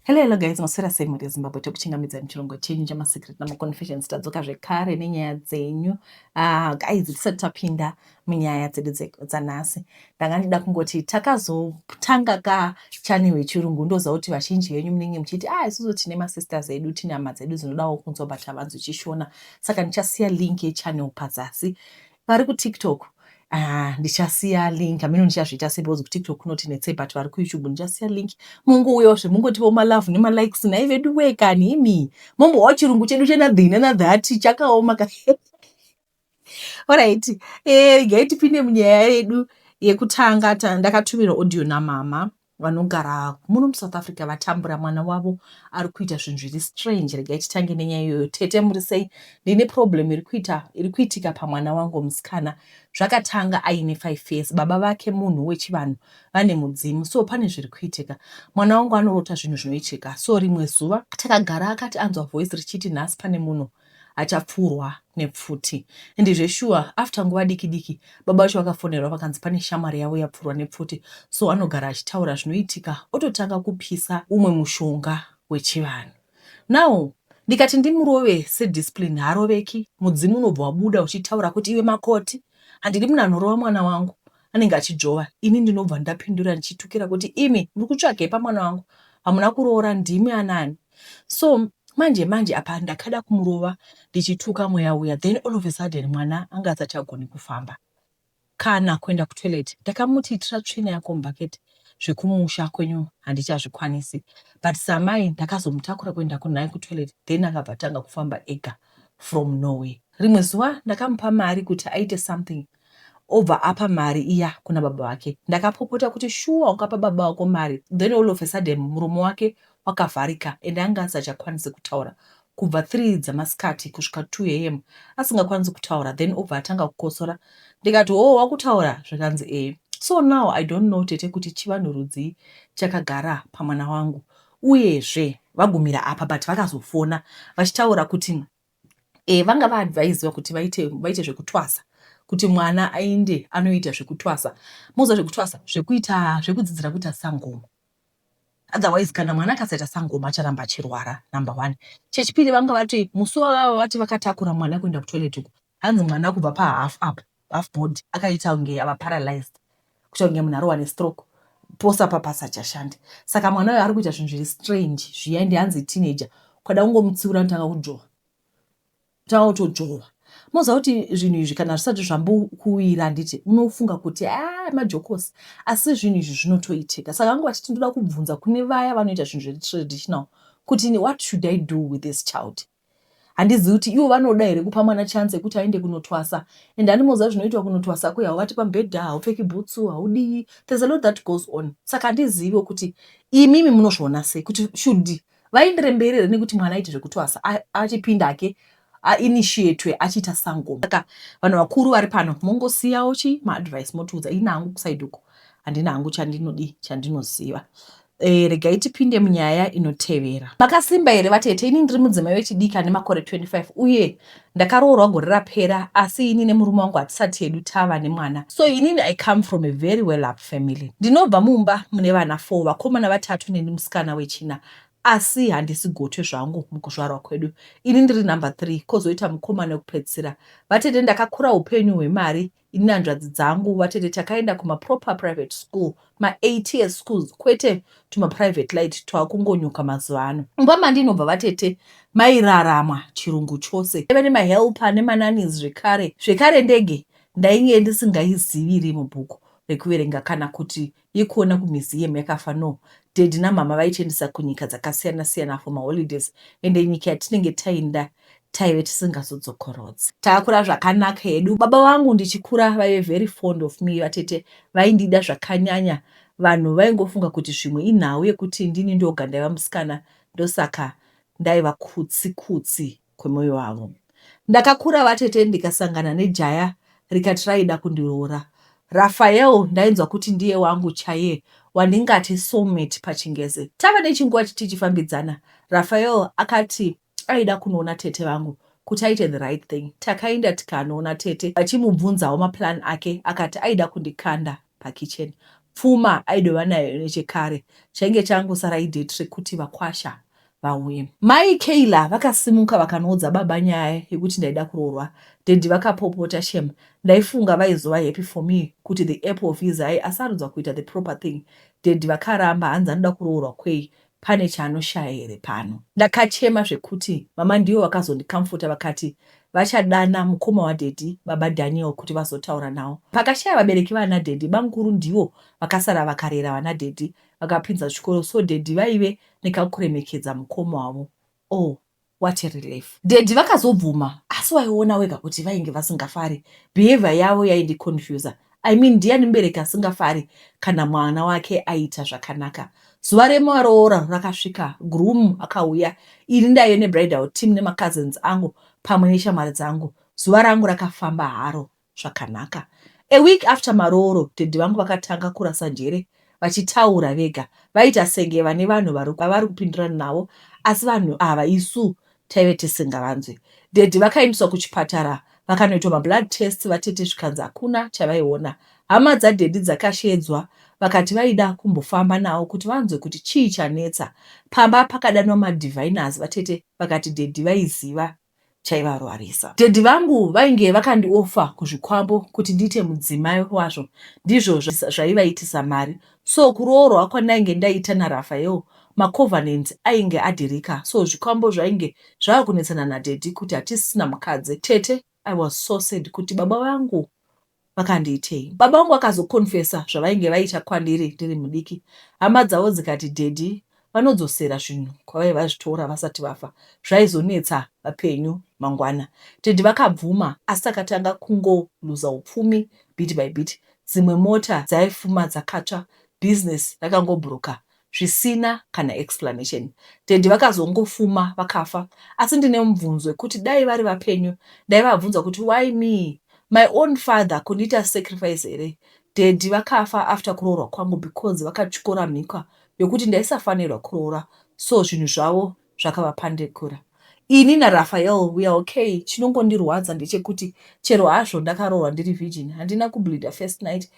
Hello hello guys, maswera sei mhuri yeZimbabwe tekuchingamidzai muchirongo chenyu chamaSecret namaConfessions tadzoka zvekare nenyaya dzenyu. Ah, guys tisati tapinda munyaya dzedu dzanhasi ndanga ndida kungoti takazotanga ka channel yechirungu ndoziva kuti vazhinji venyu munenge muchiti ah isusu tine masisters edu tine hama dzedu dzinodawo kunzwa but havanzwi chishona saka ndichasiya link yechannel pazasi Vari kuTikTok Ah, ndichasiya link amino ndichazviita sei because kutiktok kunotinetsei but vari kuyoutube ndichasiya link mongouyawo zve mongotivo malove nemalikes nhai vedu wee kani imi mombohwa chirungu chedu chenadhii nenadhati chakaoma ka orit eh, regai tipinde munyaya yedu yekutanga ndakatumirwa audio namama vanogara muno musouth africa vatambura mwana wavo ari kuita zvinhu zviri strange regai titange nenyaya iyoyo tete muri sei ndine problem iri kuita iri kuitika pamwana wangu musikana zvakatanga aine five years baba vake munhu wechivanhu vane mudzimu so pane zviri kuitika mwana wangu anorota zvinhu zvinoitika so rimwe zuva takagara akati anzwa voice richiti nhasi pane munhu achapfurwa nepfuti and zveshuwa after nguva diki diki baba vacho vakafonerwa vakanzi pane shamwari yavo yapfurwa nepfuti so anogara achitaura zvinoitika ototanga kupisa umwe mushonga wechivanhu now ndikati ndimurove sediscipline haaroveki mudzimu unobva wabuda uchitaura kuti iwe makoti handidi munhu anorova mwana wangu anenge achidzvova ini ndinobva ndapindura ndichitukira kuti imi muri kutsvagei pamwana wangu hamuna kuroora ndimi anani so manje manje apa ndakada kumurova ndichituka mweya uya then all of a sudden mwana anga asachagoni kufamba kana kuenda kutoilet ndakamuti itira tsvina yako mubhaketi zvekumusha kwenyu handichazvikwanisi but samai ndakazomutakura kuenda kunaye kutoilet then akabva tanga kufamba ega from norway rimwe zuva ndakamupa mari kuti aite something obva apa mari iya kuna baba vake. Ndakapopota kuti shuwa ukapa baba vako mari then all of a sudden muromo wake wakavharika ende anga asachakwanise kutaura kubva three dzamasikati kusvika two am asingakwanisi kutaura then obva atanga kukosora ndikati hoo wakutaura zvikanzi ee so now i don't know tete kuti chivanhu rudzii chakagara pamwana wangu uyezve vagumira apa but vakazofona vachitaura kuti e, vanga vaadvaisiwa kuti vaite, vaite zvekutwasa kuti mwana aende anoita zvekutwasa moziva zvekutwasa zvekuita zvekudzidzira kuita sangoma otherwise kana mwana akasaita sangoma acharamba achirwara number one chechipiri vanga vati musi wavava vati vakatakura mwana kuenda kutoilet uku hanzi mwana kubva pahalf up half body akaita kunge ava paralyzed kuita kunge munhu arohwa nestroke pose apa pasachashande saka mwana uyo ari kuita zvinhu zviri strange zviya ende hanzi teenager ukada kungomutsiura notanga kujoha tanga kutojohwa moziva kuti zvinhu izvi kana zvisati zvambokuwira handiti unofunga kuti a ah, majokosi asi zvinhu izvi zvinotoitika saka angu vachiti ndoda kubvunza kune vaya vanoita zvinhu zviri traditional kuti what should i do with this child handizivi kuti ivo vanoda here kupa mwana chance yekuti aende kunotwasa and animoziva zvinoitwa kunotwasa kuya hauvati pamubhedha haupfeki bhutsu haudii there's a lot that goes on saka handiziviwo kuti imimi munozviona sei kuti should vaendere mberi here nekuti mwana aite zvekutwasa achipinda hake ainitiatwe achiita sangoma saka vanhu vakuru vari pano mongosiyawo chi maadvice motiudza ini hangu kusaidi uko handina hangu chandinodii chandinoziva E, regai tipinde munyaya inotevera. Makasimba here vatete? Ini ndiri mudzimai wechidiki ane makore 25 uye ndakaroorwa gore rapera, asi ini nemurume wangu hatisati hedu tava nemwana. So inini I come from a very well up family. Ndinobva mumba mune vana four, vakomana vatatu neni musikana wechina asi handisi gotwe zvangu mukuzvarwa kwedu ini ndiri number three kozoita mukomana wekupedzisira vatete ndakakura upenyu hwemari Ini nehanzvadzi dzangu vatete takaenda kuma proper private school, ma eight years schools kwete tuma private light twakungonyuka mazuva ano. Mumba mandinobva vatete mairaramwa chirungu chose. Taiva nema helper nema nannies zvekare. Zvekare ndege ndainge ndisingaizivi iri mubhuku rekuverenga kana kuti yekuona ku museum yakafa no daddy na mhamha vaitiendesa kunyika dzakasiyana siyana for maholidays ende nyika yatinenge tainda taive tisingazodzokorodzi. Takakura zvakanaka hedu baba vangu ndichikura vaive very fond of me vatete vaindida zvakanyanya vanhu vaingofunga kuti zvimwe inhau yekuti ndini ndoga ndaiva musikana ndosaka ndaiva kutsi kutsi kwemoyo wavo. Ndakakura vatete ndikasangana nejaya rikati raida kundiroora. Raphael ndainzwa kuti ndiye wangu chaiye wandingati soulmate pachingezi. Tava nechinguva tichifambidzana Raphael akati aida kunoona tete vangu kuti aite the right thing. Takaenda tikanoona tete vachimubvunzawo maplan ake akati aida kundikanda. pakitchen pfuma aidova nayo nechekare chainge changosara idate rekuti vakwasha vauye. Mai Kayla vakasimuka vakanoudza baba nyaya yekuti ndaida kuroorwa. Daddy vakapopota shem ndaifunga vaizova happy for me kuti the apple of his eye asarudza kuita the proper thing. Daddy vakaramba hanzi anoda kuroorwa kwei Pane chaanoshaya here pano. Ndakachema zvekuti mama ndivo vakazondikamfota vakati vachadana mukoma wadaddy baba Daniel kuti vazotaura nawo. Pakashaya vabereki vana daddy bamkuru ndivo vakasara vakarera vana daddy vakapinza chikoro so daddy vaive nekakuremekedza mukoma wavo Oh what a relief. Daddy vakazobvuma asi waiona wega kuti vainge vasingafari. Behavior yavo yaindiconfuser. I mean ndiani mubereki asingafari kana mwana wake aita zvakanaka. Zuva remaroora rakasvika, groom akauya, ini ndaive nebridal team nemacousins angu pamwe neshamwari dzangu. Zuva rangu rakafamba haro. zvakanaka. A week after marooro daddy vangu vakatanga kurasa njere vachitaura vega vaita senge vane vanhu vavari kupindurana navo asi vanhu ava isu taive tisingavanzwe. Daddy vakaendeswa kuchipatara vakanoitwa mablood tests vatete zvikanzi hakuna chavaiona. Hama dzadaddy dzakasheedzwa vakati vaida kumbofamba navo kuti vanzwe kuti chii chanetsa. Pamba pakadanwa madiviners vatete vakati daddy vaiziva chaivarwarisa. Daddy vangu vainge vakandioffer kuzvikwambo kuti ndiite mudzimai wazvo ndizvo zvaivaitisa mari so kuroorwa kwandainge ndaita naRaphael macovenants ainge adhirika so zvikwambo zvainge zvava kunetsana nadaddy kuti hatisisina mukadzi. Tete I was so sad kuti baba vangu vakandiitei. Baba vangu vakazo confessor zvavainge vaita kwandiri ndiri mudiki hama dzavo dzikati daddy vanodzosera zvinhu kwavaive vazvitora vasati vafa zvaizonetsa vapenyu mangwana. Daddy vakabvuma asi takatanga kungo looser upfumi bit by bit dzimwe mota dzaifuma dzakatsva business rakangobhuruka zvisina kana explanation. Daddy vakazongofuma vakafa asi ndine mubvunzo wekuti dai vari vapenyu ndaivabvunza kuti why me my own father kundiita sacrifice here. Daddy vakafa after kuroorwa kwangu because vakatyora mhikwa yokuti ndaisafanirwa kuroora so zvinhu zvavo zvakavapandekura. Ini naRaphael we are okay chinongondirwadza ndechekuti chero hazvo ndakaroorwa ndiri virgin handina kubleeder first night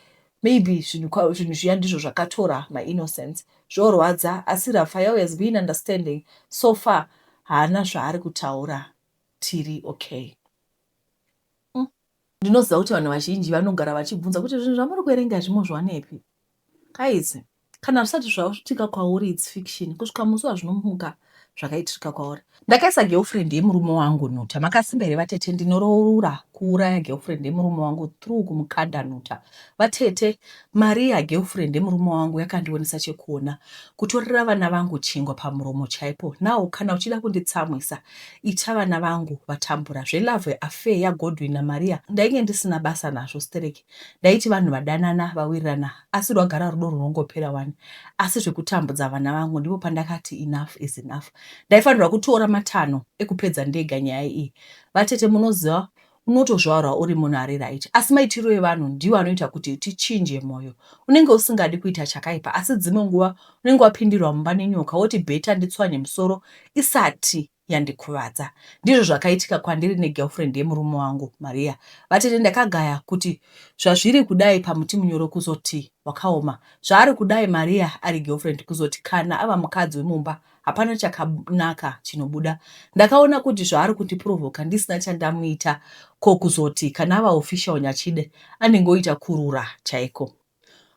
maybe zvinhu kwa- zvinhu zviya ndizvo zvakatora my innocence zvorwadza asi rafael has been understanding so far haana zvaari kutaura tiri okay Mm. ndinoziva kuti vanhu vazhinji vanogara vachibvunza kuti zvinhu zvamuri kuverenga izvi mozviwanepi guys Kana zvisati zvaitika kwauri its fiction kusvika musi wazvinomuka zvakaitika kwauri. Ndakaisa girlfriend yemurume wangu nhuta. Makasimba here vatete? Ndinoroora kuuraya girlfriend yemurume wangu through kumukanda nhuta. Vatete, mari yagirlfriend yemurume wangu yakandionesa chekuona. Kutorera vana vangu chingwa pamuromo chaipo. Now kana uchida kunditsamwisa ita vana vangu vatambura. Zvelove affair yaGodwin naMaria ndainge ndisina basa nazvo sterek. Ndaiti vanhu vadanana vawirirana asi rwagara rudo runongopera wani asi zvekutambudza vana vangu ndipo pandakati enough is enough. Ndaifanirwa kutora matanho ekupedza ndega nyaya iyi. Vatete munoziva unotozvarwa uri munhu ari right asi maitiro evanhu ndiwo anoita kuti tichinje moyo. Unenge usingadi kuita chakaipa asi dzimwe nguva unenge wapindirwa mumba nenyoka woti better nditswanye musoro isati yandikuvadza. Ndizvo zvakaitika kwandiri negirlfriend yemurume wangu Maria. Vatete ndakagaya kuti zvazviri kudai pamuti munyoro kuzoti wakaoma. Zvaari kudai Maria ari girlfriend kuzoti kana ava mukadzi wemumba hapana chakanaka chinobuda. Ndakaona kuti zvaari kundiprovoka ndisina chandamuita ko kuzoti kana ava official Nyachide anenge oita kurura chaiko.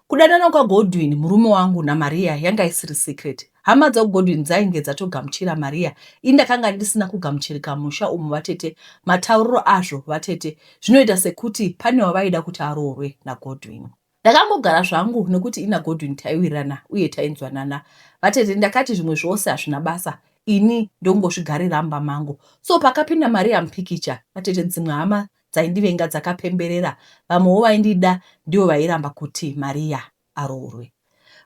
Kudanana kwaGodwin, murume wangu, naMaria yanga isiri secret. Hama dzaGodwin dzainge dzatogamuchira Maria ini ndakanga ndisina kugamuchirika musha umu vatete matauriro azvo vatete zvinoita sekuti pane wavaida kuti aroorwe naGodwin. Ndakangogara zvangu nekuti ina Godwin taiwirirana uye tainzwanana. Vatete ndakati zvimwe zvose hazvina basa ini ndongozvigarira mumba mangu. So pakapinda Maria mupikicha vatete dzimwe hama dzaindivenga dzakapemberera vamwewo vaindida ndivo vairamba kuti Maria aroorwe.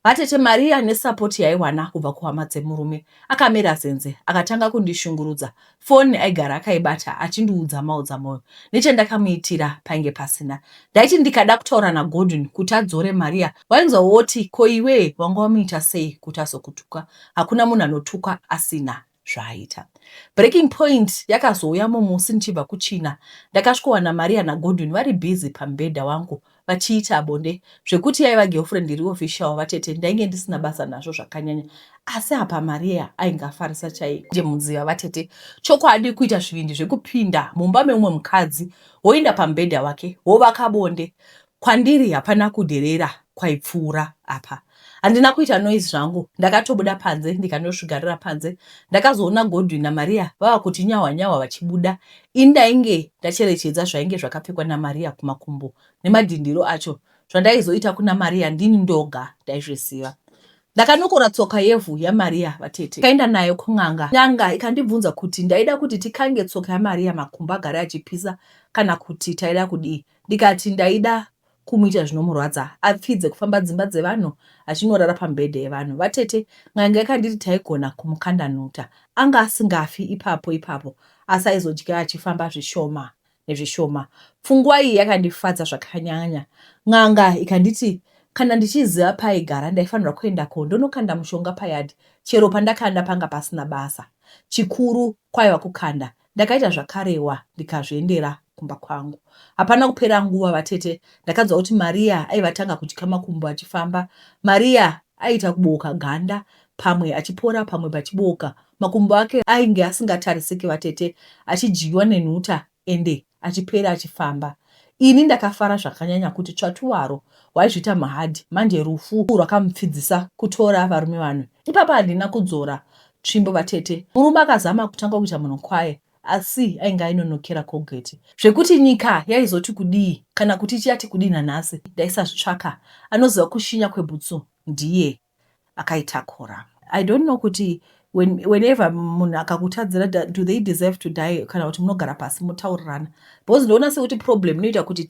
Vatete Maria nesapoti yaiwana kubva kuhama dzemurume akamera zenze akatanga kundishungurudza. Foni aigara akaibata achindiudza maodzamwoyo nechandakamuitira painge pasina. Ndaiti ndikada kutaura naGodwin kuti adzore Maria wainzwa woti ko iwee wanga wamuita sei kuti azokutuka. Hakuna munhu anotukwa asina zvaaita. Breaking point yakazouya mumusi ndichibva kuChina ndakasvikowana Maria naGodwin vari busy pamubhedha wangu vachiita bonde zvekuti yaiva girlfriend iri official vatete ndainge ndisina basa nazvo zvakanyanya asi apa Maria ainge afarisa chaiko ndiye mudziva vatete chokwadi kuita zvivindi zvekupinda mumba meumwe mukadzi woenda pamubhedha wake wovaka bonde Kwandiri hapana kudherera kwaipfuura apa. Handina kuita noise zvangu ndakatobuda panze ndikandosvigarira panze. Ndakazoona Godwin naMaria vava kuti nyahwa nyahwa vachibuda. Ini ndainge ndacherechedza zvainge zvakapfekwa naMaria kumakumbo nemadhindiro acho zvandaizoita kuna Maria ndini ndoga ndaizviziva. Ndakanokora tsoka yevhu yaMaria vatete kaenda nayo kun'anga. N'anga ikandibvunza kuti ndaida kuti tikange tsoka yaMaria makumbo agare achipisa kana kuti taida kudii. Ndikati ndaida kumuita zvinomurwadza apfidze kufamba dzimba dzevanhu achinorara pamibhedha yevanhu. Vatete n'anga yakanditi taigona kumukanda nhuta. Anga asingafi ipapo ipapo asi aizodya achifamba zvishoma nezvishoma. Pfungwa iyi yakandifadza zvakanyanya. N'anga ikanditi kana ndichiziva paaigara ndaifanirwa kuendako ndonokanda mushonga payard chero pandakanda panga pasina basa. Chikuru kwaiva kukanda Ndakaita zvakarewa ndikazviendera kumba kwangu. Hapana kupera nguva vatete ndakanzwa kuti Maria aiva atanga kudya makumbo achifamba. Maria aiita kubooka ganda pamwe achipora pamwe pachibooka. Makumbo ake ainge asingatarisiki vatete achidyiwa nenhuta ende achipera achifamba. Ini ndakafara zvakanyanya kuti tsvatu waro waizviita mahard manje rufu rwakamupfidzisa kutora varume vanwe. Ipapa handina kudzora Tsvimbo vatete. Murume akazama kutanga kuita munhu kwaye asi ainge ainonokera Colgate zvekuti nyika yaizoti kudii kana kuti ichiyati kudii nanhasi ndaisazvitsvaka. Anoziva kushinya kwebhutsu ndiye akaitakura. I don't know kuti when, whenever munhu akakutadzira do they deserve to die kana kuti munogara pasi motaurirana because ndoona sekuti problem inoita kuti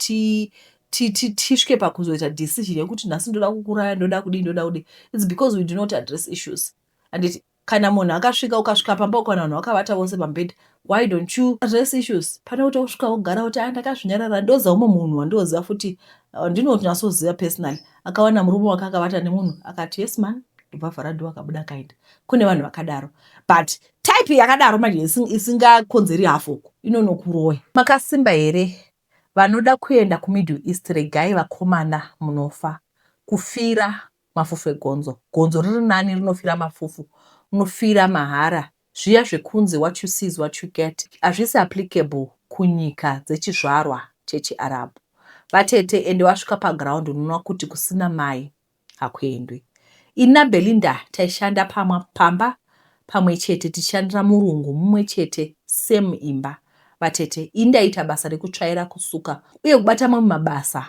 ti tisvike pakuzoita decision yekuti nhasi ndoda kukuraya ndoda kudii ndoda kudii its because we do not address issues handiti kana munhu akasvika ukasvika pamba ukaona vanhu vakavata vose pambedha why don't you address issues pane kuti usvika wogara kuti ah ndakazvinyarara ndoziva umwe munhu wandinoziva futi uh, ndinotonyasoziva personally akawana murume wake akavata nemunhu akati yes man ndobva vhara dho akabuda akaenda kune vanhu vakadaro but type yakadaro manje isingakonzeri hafoko inonokuroya makasimba here vanoda kuenda kumiddle east regai vakomana munofa kufira Mafufu egonzo. Gonzo riri nani rinofira mafufu. Unofira mahara. Zviya zvekunzi what you see is what you get hazvisi applicable kunyika dzechizvarwa chechiArabhu. Vatete ende wasvika paground unoona kuti kusina mai hakuendwi. Ini naBelinda taishanda pamwa pamba pamwe chete tichishandira murungu mumwe chete same imba. Vatete. Ini ndaiita basa rekutsvaira, kusuka uye kubata mamwe mabasa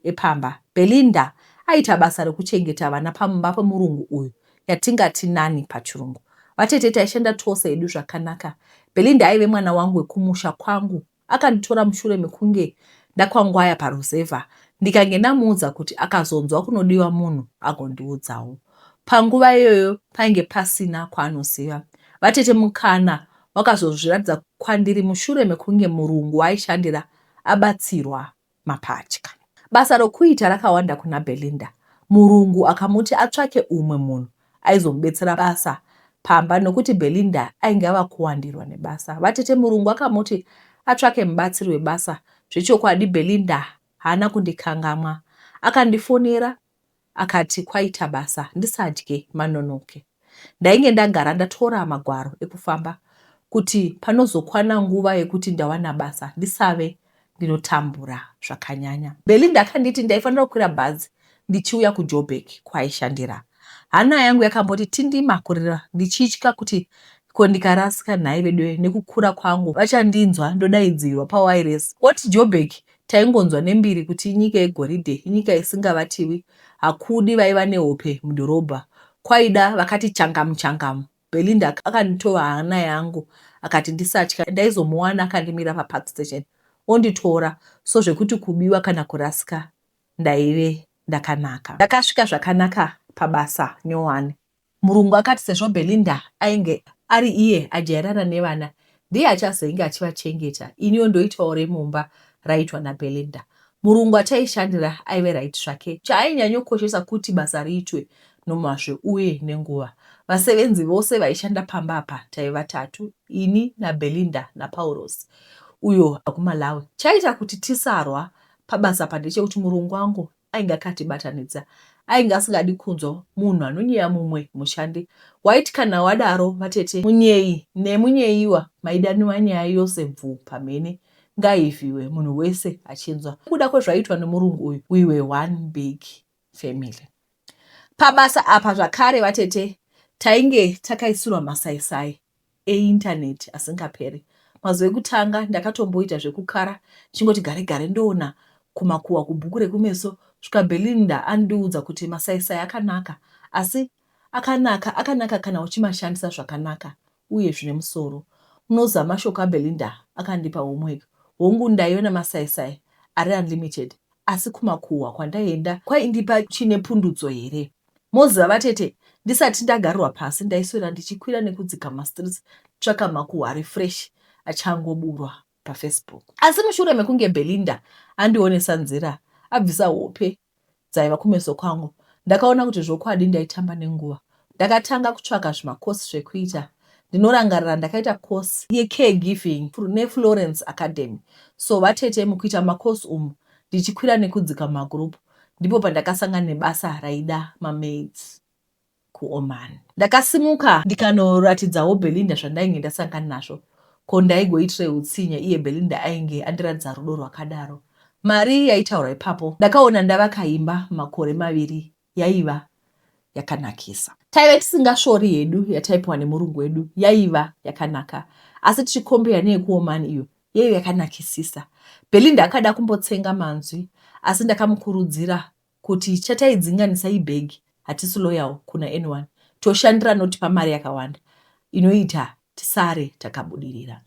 epamba. Belinda aiita basa rekuchengeta vana pamumba pemurungu uyu yatingati nanny pachirungu. Vatete taishanda tose hedu zvakanaka. Belinda aive mwana wangu wekumusha kwangu. Akanditora mushure mekunge ndakwangwaya paruzevha ndikange ndamuudza kuti akazonzwa kunodiwa munhu agondiudzawo. Panguva iyoyo painge pasina kwaanoziva. Vatete mukana wakazozviratidza kwandiri mushure mekunge murungu waaishandira abatsirwa mapatya. Basa rokuita rakawanda kuna Belinda. Murungu akamuti atsvake umwe munhu aizomubetsera basa pamba nokuti Belinda ainge ava kuwandirwa nebasa. Vatete murungu akamuti atsvake mubatsiri webasa. Zvechokwadi Belinda haana kundikangamwa. Akandifonera Akati kwaita basa ndisadye manonoke. Ndainge ndagara ndatora magwaro ekufamba kuti panozokwana nguva yekuti ndawana basa ndisave ndinotambura zvakanyanya. Belinda akanditi ndaifanira kukwira bhazi ndichiuya kuJoburg kwaaishandira. Hana yangu yakamboti tindima kurira ndichitya kuti ko ndikarasika nhai veduwe nekukura kwangu vachandinzwa ndodaidzirwa pawairesi oti Joburg Taingonzwa nembiri kuti inyika yegoridhe, inyika isingavatiwi, hakudi vaiva nehope mudhorobha, kwaida vakati changamu changamu. Belinda akanditova hana yangu akati ndisatya, ndaizomuwana akandimira paPark Station onditora, so zvekuti kubiwa kana kurasika ndaive ndakanaka. Ndakasvika zvakanaka pabasa nyowani. Murungu akati sezvo Belinda ainge ari iye ajairana nevana, ndiye achazoinge achivachengeta, iniwo ndoitwawo remumba raiitwa naBelinda. Murungu achaishandira aive right zvake. Chaainyanyookoshesa kuti basa riitwe nomazvo uye nenguva. Vasevenzi vose vaishanda pamba apa taive vatatu, ini naBelinda naPaurosi, uyo ari kuMalawi. Chaiita kuti tisarwa pabasa apa ndechekuti murungu wangu ainge akatibatanidza ainge asingadi kunzwa munhu anonyeya mumwe mushandi waiti kana wadaro vatete munyeyi nemunyeyiwa maidaniwa nyaya yose bvuu pamhene ngaivhiwe munhu wese achinzwa kuda kwezvaiitwa nemurungu uyu we were one big family pabasa apa zvakare vatete tainge takaisirwa masaisai eindaneti asingaperi. Mazuva ekutanga ndakatomboita zvekukara ndichingoti gare gare ndoona kumakuhwa kubhuku rekumeso svika Belinda andiudza kuti masaisai akanaka asi akanaka akanaka kana uchimashandisa zvakanaka uye zvine musoro unoziva mashoko aBelinda akandipa homework hongu ndaiona masaisai ari unlimited asi kumakuhwa kwandaienda kwaindipa chine pundutso here Moziva vatete ndisati ndagarwa pasi ndaiswera ndichikwira nekudzika mastreets tsvaka makuhwa refresh achangoburwa pafacebook. Asi mushure mekunge Belinda andionesa nzira abvisa hope dzaiva kumeso kwangu ndakaona kuti zvokwadi ndaitamba nenguva. Ndakatanga kutsvaka zvimacourse zvekuita ndinorangarira ndakaita course yecare giving neFlorence Academy. So vatete mukuita macourse umu ndichikwira nekudzika mumagroup ndipo pandakasangana nebasa raida mamaids kuoman ndakasimuka ndikanoratidzawo belinda zvandainge ndasangana nazvo ko ndaigoitire utsinye iye belinda ainge andiratidza rudo rwakadaro mari yaitaurwa ipapo ndakaona ndavakaimba makore maviri yaiva yakanakisa taive tisingasvori hedu yataipiwa nemurungu wedu yaiva yakanaka asi tichikombeya neyekuomani iyo Yaive yakanakisisa. Belinda akada kumbotsenga manzwi asi ndakamukurudzira kuti chataidzinganisa ibhegi hatisi loyal kuna anyone. Toshandira anotipa mari yakawanda inoita tisare takabudirira.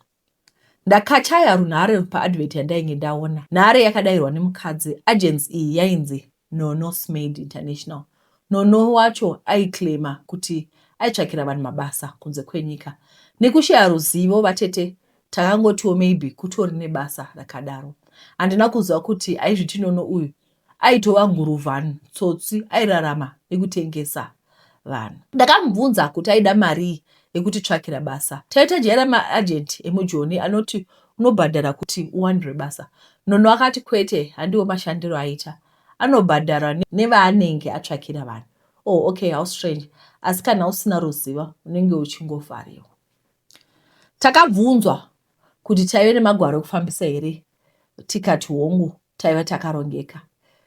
Ndakachaya runhare paadvert yandainge ndaona. Nhare yakadairwa nemukadzi. Agency iyi yainzi NoNorsemaid International. Nono wacho aiclaima kuti aitsvakira vanhu mabasa kunze kwenyika. Nekushaya ruzivo vatete takangotiwo maybe kutori nebasa rakadaro. Handina kuziva kuti aizviti Nono uyu aitova nguruvan tsotsi airarama nekutengesa vanhu. Ndakamubvunza kuti aida marii yekutitsvakira basa. Taitajaira maajenti emujoni anoti unobhadhara kuti uwanirwe basa. Nono akati kwete, handiwo mashandiro aita. Anobhadharwa nevaanenge atsvakira vanhu. Oh, okay, how strange. Asi kana usina ruzivo, unenge uchingovhariwa. Takabvunzwa kuti taive nemagwaro ekufambisa here tikati hongu taiva takarongeka.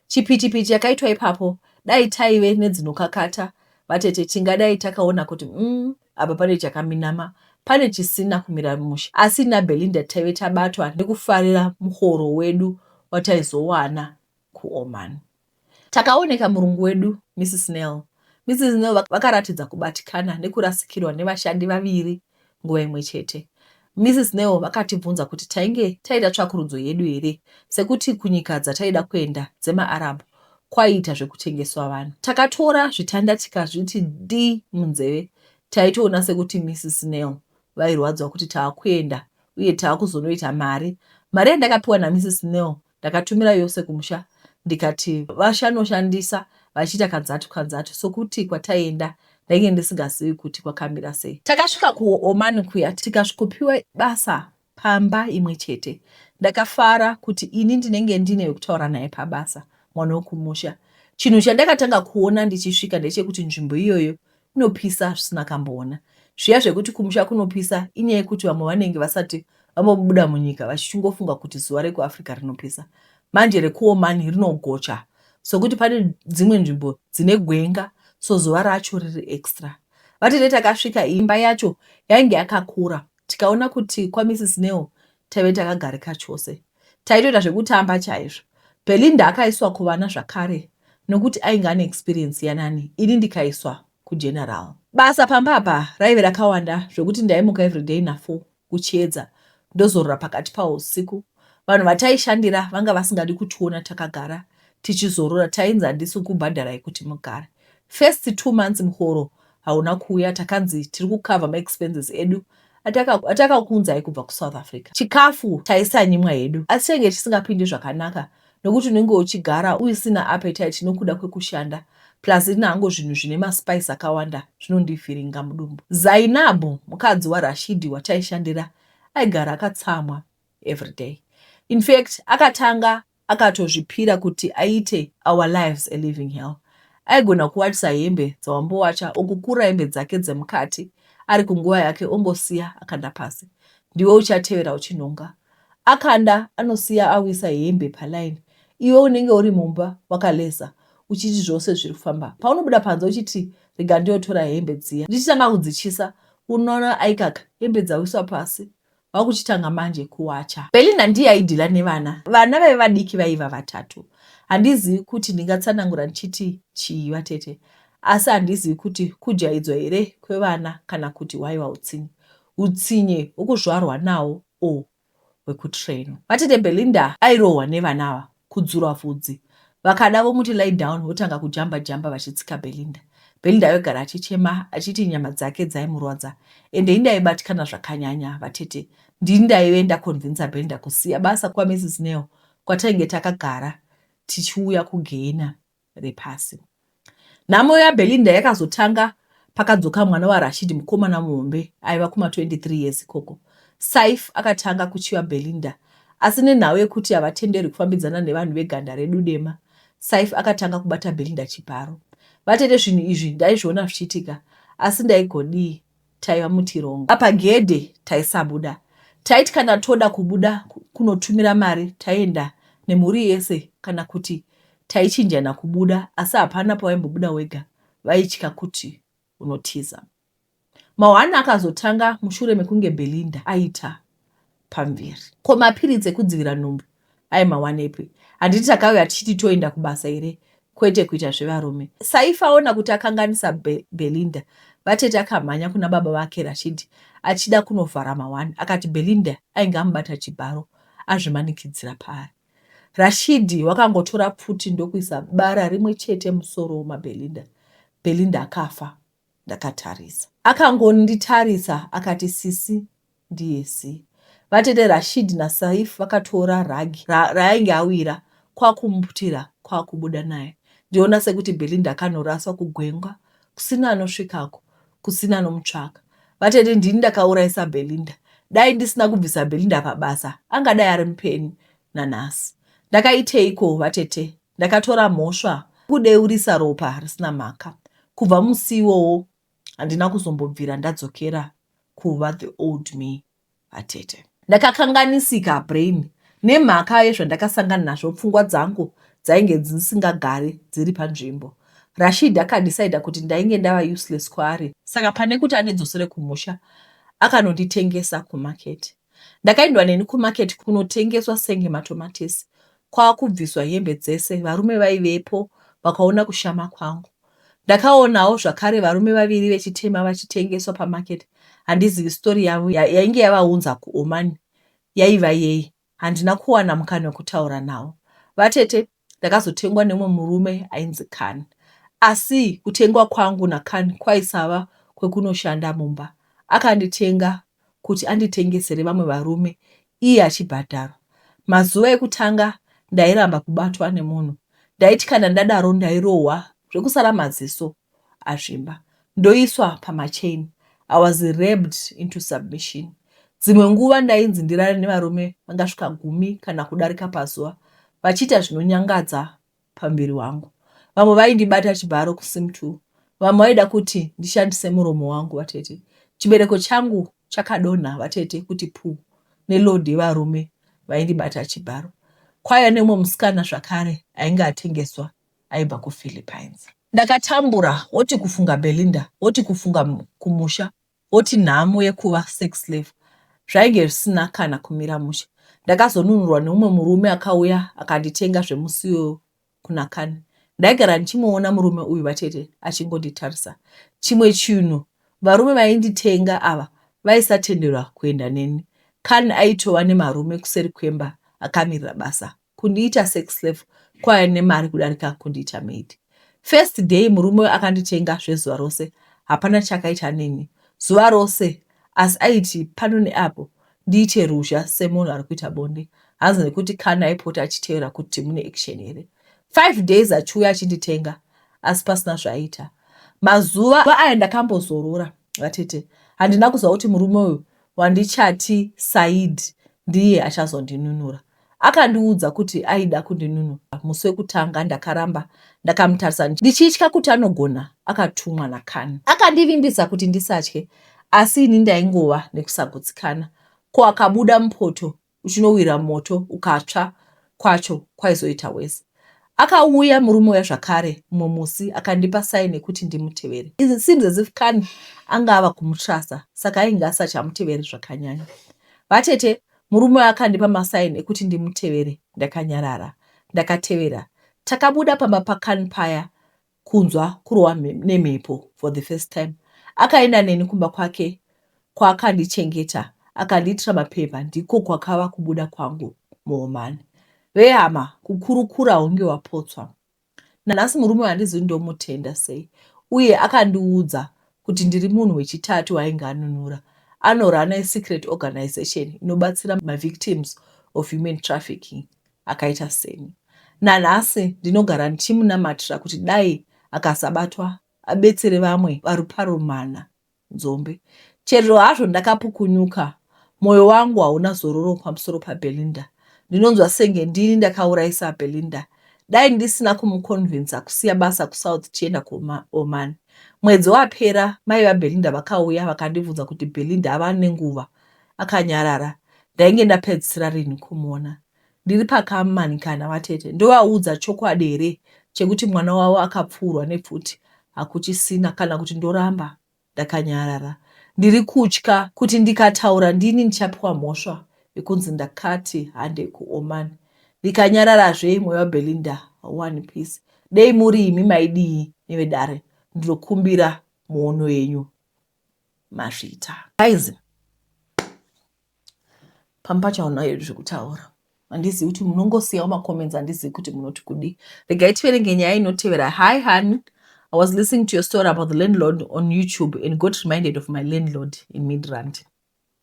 Chipitipiti chakaitwa ipapo dai taive nedzinokakata vatete tingadai takaona kuti umm apa pane chakaminama pane chisina kumira mushe. Asi naBelinda taive tabatwa nekufarira muhoro wedu wataizowana kuOman. Takaoneka murungu wedu, Mrs Nel. Mrs Nel vakaratidza kubatikana nekurasikirwa nevashandi vaviri nguva imwe chete. Mrs Nel vakatibvunza kuti tainge taita tsvakurudzo yedu here sekuti kunyika dzataida kuenda dzemaArab kwaiita zvekutengeswa vanhu. Takatora zvitanda tikazviti dii munzeve. Taitoona sekuti Mrs Nel vairwadziwa kuti tava kuenda uye tava kuzonoita mari. Mari yandakapiwa naMrs Nel Ndakatumira yose kumusha ndikati vashanoshandisa vachiita kanzatu kanzatu sokuti kwataienda ndainge ndisingazivi kuti kwakamira sei. Takasvika kuOman kuya tikasvikopiwa basa pamba imwe chete. Ndakafara kuti ini ndinenge ndine wekutaura naye pabasa, mwana wekumusha. Chinhu chandakatanga kuona ndichisvika ndechekuti nzvimbo iyoyo inopisa zvisina kamboona zviya zvekuti kumusha kunopisa inyaya yekuti vamwe vanenge vasati vambobuda munyika vachichingofunga kuti zuva rekuafrica rinopisa manje rekuomani rinogocha sokuti pane dzimwe nzvimbo dzine gwenga so zuva racho riri extra vati retakasvika imba yacho yainge yakakura tikaona kuti kwamisisneo Taive takagarika chose. Taitoita zvekutamba chaizvo. Belinda akaiswa kuvana zvakare nokuti ainge ane experience yanani ini ndikaiswa kugeneral. Basa pamba apa raive rakawanda zvekuti ndaimuka everyday nafour kuchiedza ndozorora pakati pausiku. Vanhu vataishandira vanga vasingadi kutiona takagara tichizorora tainzi handisi kukubhadharai kuti mugare. First two months muhoro hauna kuuya takanzi tiri kukavha maexpenses edu atakakuunzai kubva kusouth africa chikafu taisanyimwa hedu asi chainge chisingapindi zvakanaka nokuti unenge uchigara uisina appetite nokuda kwekushanda plus inango zvinhu zvine maspice akawanda zvinondifiringa mudumbu zainabu mukadzi warashidi wataishandira aigara akatsamwa everyday infact akatanga akatozvipira kuti aite our lives a living hell aigona kuwachisa hembe dzawambowacha okukura hembe dzake dzemukati ari kunguva yake ongosiya akanda pasi ndiwe uchatevera uchinhonga akanda anosiya awisa hembe palaini iwe unenge uri mumba wakaleza uchiti zvose zviri kufamba paunobuda panze uchiti rega ndiyotora hembe dziya ndichitanga kudzichisa unoona aikaka hembe dzawiswa pasi vakuchitanga manje kuwacha. Belinda ndiye aidhila nevana, vana vaive vadiki vaiva vatatu. Handizivi kuti ndingatsanangura ndichiti chii vatete, asi handizivi kuti kujaidzwa here kwevana kana kuti hwaiva utsinye. Utsinye hwekuzvarwa nawo or hwekutrainwa. Vatete Belinda airohwa nevana ava kudzurwa vhudzi. Vakada vomuti lie down votanga kujamba jamba vachitsika Belinda. Belinda ayogara achichema achiti nyama dzake dzaimurwadza ende indaibatikana zvakanyanya vatete. Ndini ndaive ndakonvinza Belinda kusiya basa kwaMrs Neo kwatainge takagara tichiuya kuGeena. repasi. Nhamo yaBelinda yakazotanga pakadzoka mwana waRashid mukomana muhombe aiva kuma 23 years ikoko. Saif akatanga kuchiva Belinda asi nenhau yekuti havatenderwi kufambidzana nevanhu veganda redu dema, Saif akatanga kubata Belinda chibharo. Vatete, zvinhu izvi ndaizviona zvichiitika asi ndaigodii? taiva mutirongo apa gedhe taisabuda taiti kana toda kubuda kunotumira mari taienda nemhuri yese kana kuti taichinjana kubuda asi hapana pawaimbobuda wega vaitya kuti unotiza mahwani akazotanga mushure mekunge belinda aita pamvere. Ko mapiritsi ekudzivira nhumbu aimawanepi? Handiti takauya tichiti toenda kubasa here kwete kuita zvevarume? Saifa aona kuti akanganisa Be Belinda, vatete akamhanya kuna baba vake Rashid achida kunovhara mahwani akati Belinda ainge amubata chibharo azvimanikidzira paari. Rashidi wakangotora pfuti ndokuisa bara rimwe chete musoro maBelinda. Belinda akafa. ndakatarisa. Akangonditarisa akati sisi ndiye si. Vatete Rashid na Saif vakatora rug ra, raainge awira kwakumuputira kwakubuda naye. Ndiona sekuti Belinda akanoraswa kugwenga kusina anosvikako kusina anomutsvaka. Vatete ndini ndakauraisa Belinda. Dai ndisina kubvisa Belinda pabasa angadai ari mupeni nanhasi. Ndakaiteiko vatete Ndakatora mhosva kudeurisa ropa risina mhaka. Kubva musi iwowo handina kuzombobvira ndadzokera kuva the old me vatete. Ndakakanganisika brain nemhaka yezvandakasangana nazvo pfungwa dzangu dzainge dzisingagari dziri panzvimbo. Rashid akadecida kuti ndainge ndava useless kwaari saka pane kuti andidzosere kumusha akanonditengesa kumaketi. Ndakaendwa neni kumarket kunotengeswa senge matomatisi kwakubviswa hembe dzese varume vaivepo vakaona kushama kwangu. Ndakaonawo zvakare varume vaviri vechitema vachitengeswa pamarket handizivi story yavo yainge yavaunza kuOman yaiva yei handina kuwana mukana wekutaura navo. Vatete Ndakazotengwa nemumwe murume ainzi Khan asi kutengwa kwangu naKhan kwaisava kwekunoshanda mumba. Akanditenga kuti anditengesere vamwe varume iye achibhadharwa. Mazuva ekutanga ndairamba kubatwa nemunhu. Ndaiti kana ndadaro ndairohwa zvekusara maziso. azvimba ndoiswa pamachain I was raped into submission dzimwe nguva ndainzi ndirare nevarume vangasvika gumi kana kudarika pazuva vachiita zvinonyangadza pamuviri wangu vamwe vaindibata chibharo kusim two vamwe vaida kuti ndishandise muromo wangu vatete chibereko changu chakadonha vatete kuti puu neload yevarume vaindibata chibharo kwaiva neumwe musikana zvakare ainge atengeswa aibva kuPhilippines. Ndakatambura woti kufunga Belinda woti kufunga kumusha woti nhamo yekuva sex slave zvainge zvisina kana kumira mushe. Ndakazonunurwa neumwe murume akauya akanditenga zvemusiwo kunaKani. Ndaigara ndichimuona murume uyu vatete achingonditarisa. Chimwe chinhu varume vainditenga ava vaisatenderwa kuenda neni. Kani aitova nemarume kuseri kwemba akamirira basa kundiita sex slave kwaive nemari kudarika kundiita maid. First day murume uyu akanditenga zvezuva rose hapana chaakaita neni zuva rose asi aiti pano neapo ndiite ruzha semunhu ari kuita bonde hanzi nekuti kana aipota achiteera kuti mune action here. Five days achiuya achinditenga asi pasina zvaaita. Mazuva aya ndakambozorora vatete handina kuziva kuti murume uyu wandichati said ndiye achazondinunura. Akandiudza kuti aida kundinunura musi wekutanga ndakaramba ndakamutarisa ndichitya kuti anogona akatumwa naKani. Akandivimbisa kuti ndisatye asi ini ndaingova nekusagutsikana. Ko akabuda mupoto uchinowira moto ukatsva kwacho kwaizoita worse. Akauya murume uya zvakare mumwe musi akandipa sign yekuti ndimutevere. It seems as if kani anga ava kumutruster saka ainge asachamuteveri zvakanyanya. Vatete, murume uya akandipa masign ekuti ndimutevere ndakanyarara. Ndakatevera. Takabuda pamba pakani paya kunzwa kurohwa nemhepo for the first time. Akaenda neni kumba kwake kwaakandichengeta akandiitira mapepa ndiko kwakava kubuda kwangu muhomani. Vehama kukurukura hunge wapotswa. Nanhasi murume wandizivi ndomutenda sei uye akandiudza kuti ndiri munhu wechitatu wainge anunura anorana secret organization inobatsira mavictims of human trafficking. akaita seni. Nanhasi ndinogara ndichimunamatira kuti dai akasabatwa abetsere vamwe vaRuparomhana Nzombe. Chero hazvo ndakapukunyuka, moyo wangu hauna zororo pamusoro paBelinda. Ndinonzwa senge ndini ndakaurayisa Belinda. Dai ndisina kumukonvinsa kusiya basa kuSouth tichienda kuOman. Mwedzi wapera mai vaBelinda vakauya vakandibvunza kuti Belinda ava nenguva akanyarara ndainge ndapedzisira rinhi kumuona ndiri pakamanikana vatete ndovaudza chokwadi here chekuti mwana wavo akapfuurwa nepfuti hakuchisina kana kuti ndoramba ndakanyarara ndiri kutya kuti ndikataura ndini ndichapiwa mhosva yekunzi ndakati hande kuoman ndikanyararazve imwe vabelinda one piece dei muri imi maidii nevedare ndinokumbira muono yenyu mazvita guys pamba pacho haunayo zvekutaura handizivi kuti munongosiyawo macomments handizivi kuti munoti kudii regai tiverenge nyaya inotevera hi honey I was listening to your story about the landlord on YouTube and got reminded of my landlord in Midrand.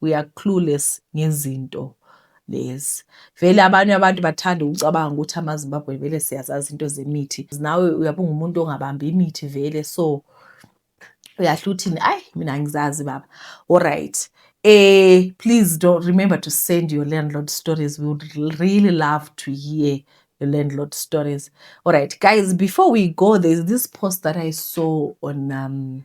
We are clueless ngezinto lezi. Vele abanye abantu bathanda ukucabanga ukuthi amaZimbabwean vele siyazazi into zemithi. Nawe uyabe ungumuntu ongabambi imithi vele so uyahla uthini ayi mina angizazi baba. Alright. Eh please don't remember to send your landlord stories. We would really love to hear your landlord stories. Alright guys, before we go there's this post that I saw on um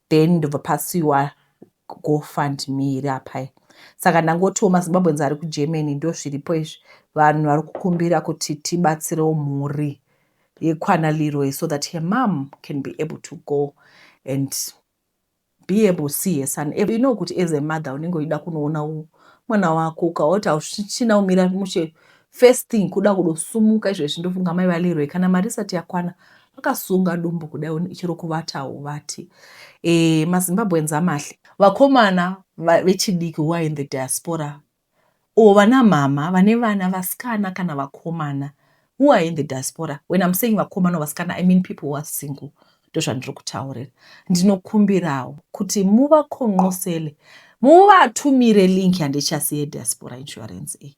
then ndobva pasiwa gofundme iri apa saka ndangotiwo mazimbabweans ari kugermany ndo zviripo izvi vanhu vari kukumbira kuti tibatsirewo mhuri yekwana leroy so that her mom can be able to go and be able to see her son you know kuti as a mother unenge uchida kunoona mwana wako ukaoti hauchina umira mushe First thing kuda kudosumuka izvezvi ndofunga mai vaLeroy kana mari isati yakwana vakasunga dumbu kudai chero kuvatawo vati e, mazimbabweans amahle vakomana vechidiki who are in the diaspora or vana mhama vane vana vasikana kana vakomana who are in the diaspora when i'm saying vakomana vasikana i mean people who are single ndozvandiri kutaurira ndinokumbirawo kuti muvakonqosele muvatumire link yandichasi yediaspora insurance iyi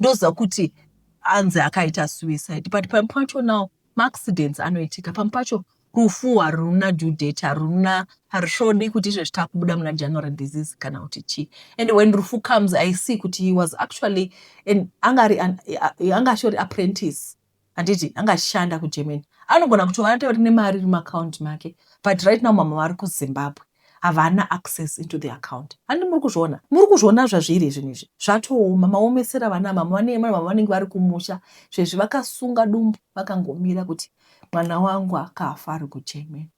ndoziva kuti anzi akaita suicide but pamwe pacho now maaccidents anoitika pamwe pacho rufu haruna due date haruna harisvodi kuti izvezvi takubuda muna january disease kana kuti chii and when rufu comes i see kuti he was actually anga ashori apprentice handiti anga achishanda kuGermany anogona kutova atori nemari iri muaccount make but right now mama vari kuZimbabwe havana access into the account handi muri kuzviona muri kuzviona zvazviri zvinhu izvi zvatooma maomesera vana mama vane mama vanenge vari kumusha zvezvi vakasunga dumbu vakangomira kuti mwana wangu akafa ari kuGermany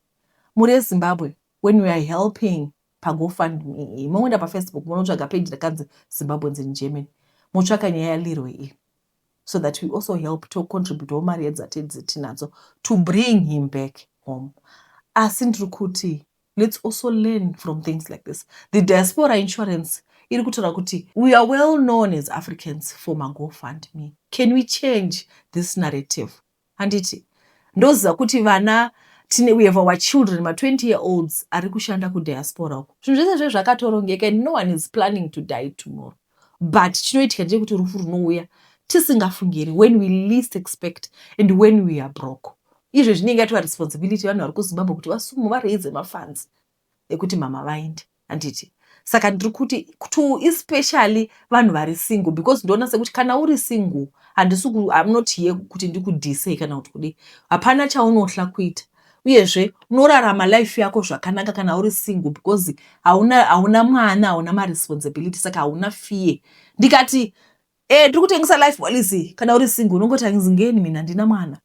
muri ezimbabwe when we are helping pagofundme moenda pafacebook monotsvaga page rakanzi zimbabweans in germany motsvaka nyaya yalirwe iyi so that we also help to contribute mari yedzatetinadzo to bring him back home asi ndiri kuti let's also learn from things like this the diaspora insurance iri kutaura kuti we are well known as africans for magofund me can we change this narrative Handiti ndoziva kuti vana tine we have our children ma 20 year olds ari kushanda kudiaspora uko zvinhu zvese zve zvakatorongeka and no one is planning to die tomorrow but chinoitika ndechekuti rufu runouya tisingafungiri when we least expect and when we are broke izvo zvinenge ato varesponsibility vanhu vari kuzimbabwe kuti vasumu varaize mafanzi ekuti mama vaende handiti saka ndiri kuti to especially vanhu vari single because ndoona sekuti kana uri single handisi am not here kuti ndikudhisei kana kuti kudii hapana chaunohla kuita uyezve unorarama life yako zvakanaka kana uri single because hauna hauna mwana hauna maresponsibility saka hauna fear ndikati e tiri kutengesa life policy kana uri single unongoti angizingeni mina ndina mwana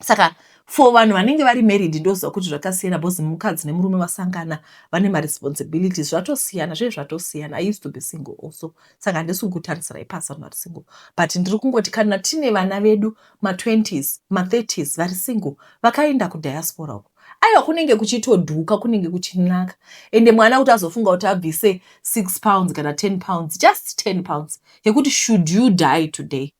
saka for vanhu vanenge vari married ndoziva kuti zvakasiyana bcause mukadzi nemurume vasangana vane maresponsibilities zvatosiyana zvee zvatosiyana i used to be single also saka handisi kukutaritsirai pasi vanhu vari single but ndiri kungoti kana tine vana vedu ma20s ma30s vari single vakaenda kudiaspora uko aiwa kunenge kuchitodhuka kunenge kuchinaka ende mwana kuti azofunga kuti abvise 6 pounds kana 10 pounds just 10 pounds yekuti should you die today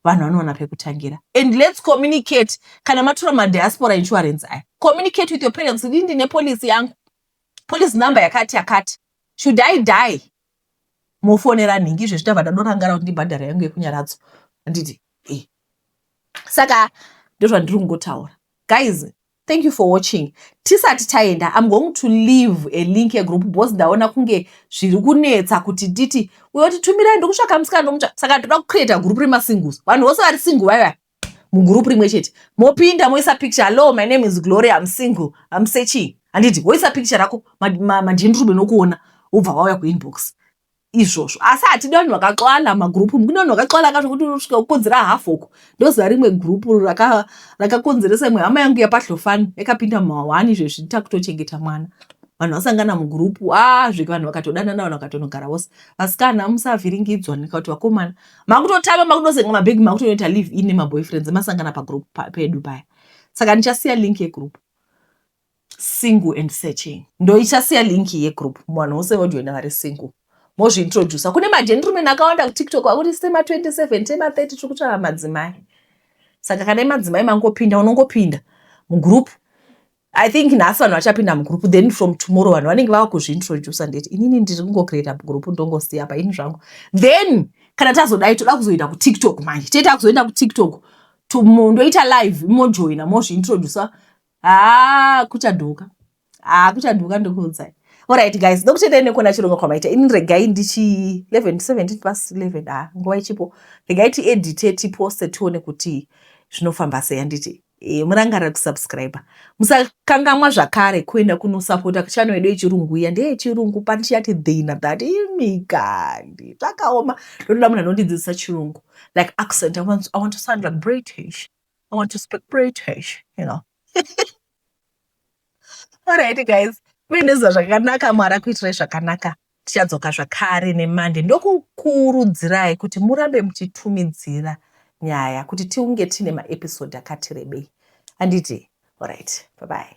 vanhu vanowana pekutangira and lets communicate kana matura madiaspora insurance aya communicate with your parents kuti ndine policy yangu policy number yakati yakati should i die mofonera nhingi izvezvi tava tadorangara kuti ndibhadhara yangu yekunyaradzo handiti e saka ndozvandiri kungotaura guys Thank you for watching. Tisati taenda, I'm going to leave a link a group boss ndaona kunge zviri kunetsa kuti titi uyo titumirai ndokutsvaka musikana ndomutsva saka toda kucreata group rema singles. Vanhu vose vari single vaya mugroup rimwe chete. Mopinda moisa picture, hello my name is Glory, I'm single, I'm searching. Handiti woisa picture rako madhindrube nokuona wobva wauya kuinbox. izvozvo asi hatidi vanhu vakaxwala magroup mukune vanhu vakaxwala ka zvekuti unosvika kukonzera half uko ndoziva rimwe group rakakonzeresa imwe hama yangu yapahlofani yakapinda mumawani izvezvi nditakutochengeta mwana vanhu vasangana mugroup azvike ah, vanhu vakatodanana vanhu vakatonogara vose vasikana musavhiringidzwa nekuti vakomana makutotama makutosenga mabhegi makutonoita live in nemaboyfriends masangana pagroup pedu paya saka ndichasiya link yegroup single and searching ndoichasiya link yegroup muvanhu vose vojoina vari single mozviintroducer kune majenrumen akawanda kutiktok akuti sema 27 tema 30 tiri kutsvaka madzimai saka kana imadzimai mangopinda unongopinda mugroup i think nhasi vanhu vachapinda mugroup then from tomorrow vanhu vanenge vava kuzviintroducer ndeti inini ndiri kungocreata group ndongosiya paini zvangu then kana tazodai toda kuzoenda kutiktok manje tee takuzoenda kutiktok ndoita live mojoina mozviintroducer haa kuchadhuka haa kuchadhuka ndokuudzai orit guys ndokuchendai nekuona chirongwa kwamaita ini regai ndichi 11 17 plus 11 haa nguva ichipo regai tiedite tiposte tione kuti zvinofamba sei anditi e, murangarira kusubscribe musakangamwa zvakare kuenda kunosapota chano yedu yechirungu iya ndeyechirungu pani chiyati dhina that imikandi zvakaoma ndotoda munhu anondidzidzisa chirungu like accent i want, I want to sound like british I want to speak British, you know. Alright guys, kuendeza zvakanaka mwari akuitirai zvakanaka tichadzoka zvakare nemande ndokukurudzirai kuti murambe muchitumidzira nyaya kuti tiunge tiine maepisode akati rebei handiti orit bye bye